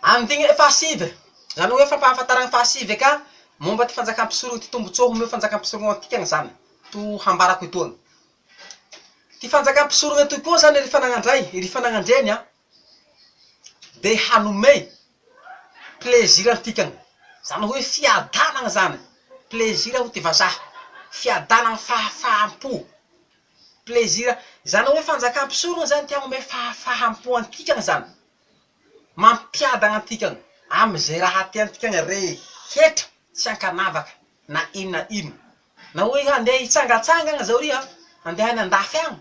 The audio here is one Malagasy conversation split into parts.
Amin'ity hoe fahasivy, izany hoe fampahafantarana ny fahasivy eka, momba ity fanjakam-pisoroha ity, tombontsoa omeo fanjakam-pisoroha antika izany, to hambarako etoana. Ity fanjakam-pisoroha ity koa izany ry fanagnandray, ry fanagnandreny an, dia hanome plaisir antika, izany hoe fiadanana izany, plaisir hoy ity vazaha, fiadanana, fahafaham-po, plaisir, izany hoe fanjakam-pisoroha izany te hanome fahafaham-po antika izany. Mampiadana antika amin'izay raha tiantika ny rehetra tsy ankanavaka na inona na inona. Na hoe handeha hitsangatsangana izao riha, handeha any an-dafy any,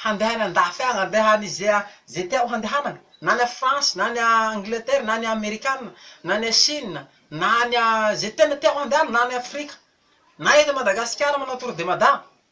handeha any an-dafy any, handeha any izay izay tianao handehanana, na any France, na any Angleterre, na any Amerikana, na any Chine, na any izay tena tianao handehanana, na any Afrika, na eto Madagasikara manao tour de Mada,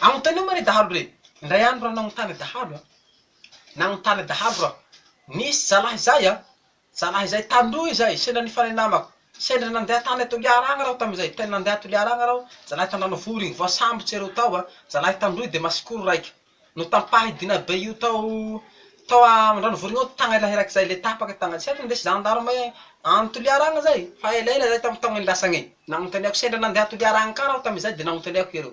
Anontanio moa re dahalo re! Indray andro raha nanontany dahalo an! Nanontany dahalo raho. Nisy zalahy izay an! Zalahy izay taloha izay, sendra nifanay namako. Sendra nandeha tany Toliara agny raho tamin'izay. Tena nandeha Toliara agny raho, zalahy Tandranovory igny. Voasambotsy ireo tao an! Zalahy tandroy dia masikoro raika. Notampahy dina be io tao tao Andranovory igny ao tagna lahy raika izay, le tapaka tagnany. Tsy haiko nindesy zandarma any Toliara agny izay. Fa elaela izay tamin'ny taonany lasa agny. Nanontaniako, sendra nandeha Toliara agny ka raho tamin'izay dia nanontaniako ireo.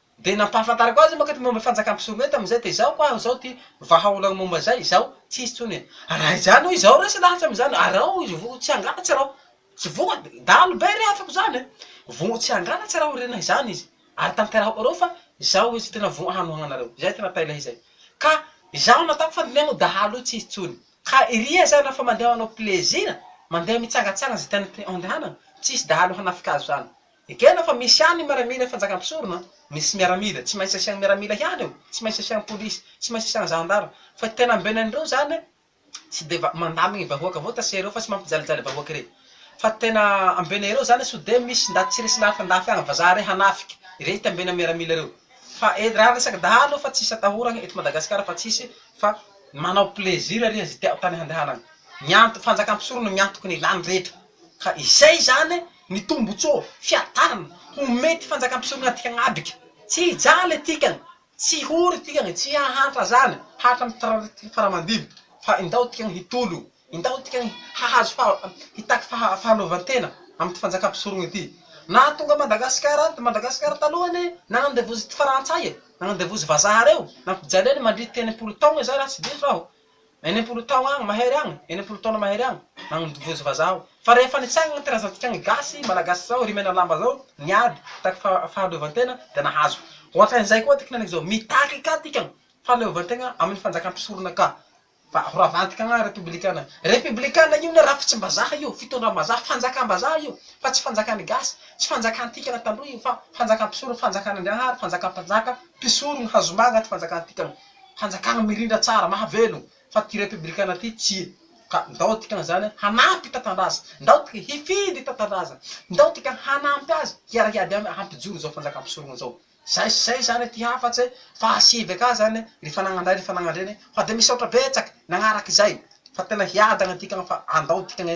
Dia nampahafantarako azy manko ny momba ny fanjakan'i Psomé tamin'izay, dia izao ho'aho izao ity vahaolana momba izay, izao, tsy hisy intsony e. Raha izany hoy izaho, resy lahatra amin'izany, ary raha hoy izy voa tsy hangalatra raho, tsy voa, dahalo be rehafako izany e, voa tsy hangalatra raho re na izany izy, ary tanterahako anareo fa izao izy tena voa hanohananareo, izay tena tailay izay. Ka izaho nataoko fandinihana io dahalo io tsy hisy intsony. Ka iry aza na fa mandeha manao plaisir, mandeha mitsangatsangana izay tiany andehanana, tsy hisy dahalo hanafika azy izany. Ekena fa misy ihany ny miaramila fanjaka mpisorona an! Misy miaramila, tsy maintsy asian miaramila ihany eo, tsy maintsy asian polisy, tsy maintsy asian gendarme, fa tena ambela an'ireo zany an! tsy de va mandamigny ny vahoaka avao tase reo fa tsy mampijalijaly vahoaka rey! fa tena ambena ireo zany an! so de misy ndaty tsy resy lafy andafy agny vazaha rey hanafika irey ty ambena miaramila reo! fa et raha resaky dahalo fa tsisy atahoragny eto Madagascar fa tsisy fa manao plaisir ary izy tiao tany handehanagny! ny anto fanjaka mpisorona miantoky ny ilany rehetra! ka izay zany ny tombotsoa fiadanana ho mety fanjakam-pisorona dikany adika. Tsy hijaly dikany, tsy hory dikany, tsy hahantra zany hatramin'ny tratran'ny fara-mandibo fa indao dikany hitolo, indao dikany hahazo faha, hitaky faha, fahaleovantena amin'ity fanjakam-pisorona ity. Naha tonga Madagasikara any, Madagasikara taloha anie nanandevozin'ny frantsay e, nanandevozin'ny vazaha reo, nampijaliany mandritry enimpolo taogna zay raha tsy diso aho. Enimpolo tao agny mahery agny, enimpolo taona mahery agny, nagnodivozy vazaha aho. Fa rehefa nitsaigny gny tirazantika gny gasy, malagasy zao, ry mena lamba zao, niady, nitaky fa fahaleovan-tena, de nahazo. Ohatrany zay koa ty kinaniko zao, mitaky ka tika fahaleovan-tegna amy ny fanjaka mpisorona ka, fa ho ravantika agny repobilikana. Repobilikana io ne rafitsim-bazaha io, fitondram-bazaha, fanjakam-bazaha io, fa tsy fanjakan' ny gasy, tsy fanjakan-tika taloha io, fa fanjakam-pisorona, fanjakan' Andriagnahary, fanjakam-panjaka, mpisorogny, hazomanga ty fanjakan-tika. fanjakana mirindra tsara mahavelogno fa ty repibrikana ty tsia ka ndao dikany zany hanampy tatandraza ndao tika hifidy tatandraza ndao tika hanampy azy hiara hiady aminy hampijoro zao fanjakampisorono zao zay sy zay zany ty hafatse fahasivy aka zany ry fanagnandrahy ry fanagnandreny fa de misaotra betsak nagnaraka izay fa tena hiadagna tika fa andao tika gne